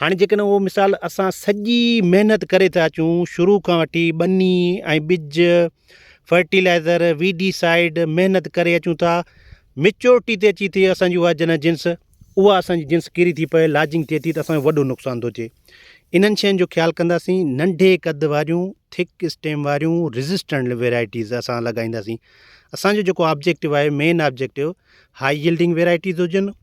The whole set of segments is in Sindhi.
هاڻي جيڪڏهن اهو مثال اسان سڄي محنت ڪري ٿا اچون شروع کان وٺي ٻني ۽ ٻج فرٽيلائزر وي ڊي سائيڊ محنت ڪري اچون ٿا ميچورٽي تي اچي ٿي اسانجي اها جنهن جنس اها اسانجي جنس ڪيري ٿي پئي لاجنگ ٿئي ٿي ته اسانجو وڏو نقصان ٿو اچي انهن شين جو خيال ڪنداسين ننڍي قد واريون ٿڪ اسٽيم واريون ريزسٽنٽ ويرائٽيز اسان لڳائينداسين اسانجو جيڪو آبجيڪٽو آهي main objective high yielding varieties هجن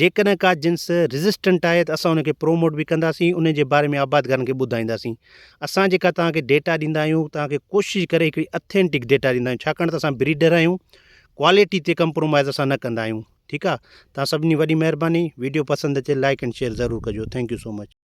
جيڪڏهن ڪا جنس ريزسٽنٽ آهي ته اسان ان کي پروموٽ به ڪنداسين ان جي باري ۾ آبادگارن کي ٻڌائينداسين اسان جيڪا توهان کي ڊيٽا ڏيندا آهيون توهان کي ڪوشش ڪري هڪڙي اٿينٽڪ ڊيٽا ڏيندا آهيون ڇاڪاڻ ته اسان بريڊر آهيون ڪواليٽي تي ڪمپرومائز اسان نه ڪندا آهيون ٺيڪ آهي توهان سڀني وڏي مهرباني ويڊيو پسند اچي لائڪ اينڊ شيئر ضرور ڪجو ٿينڪ يو سو مچ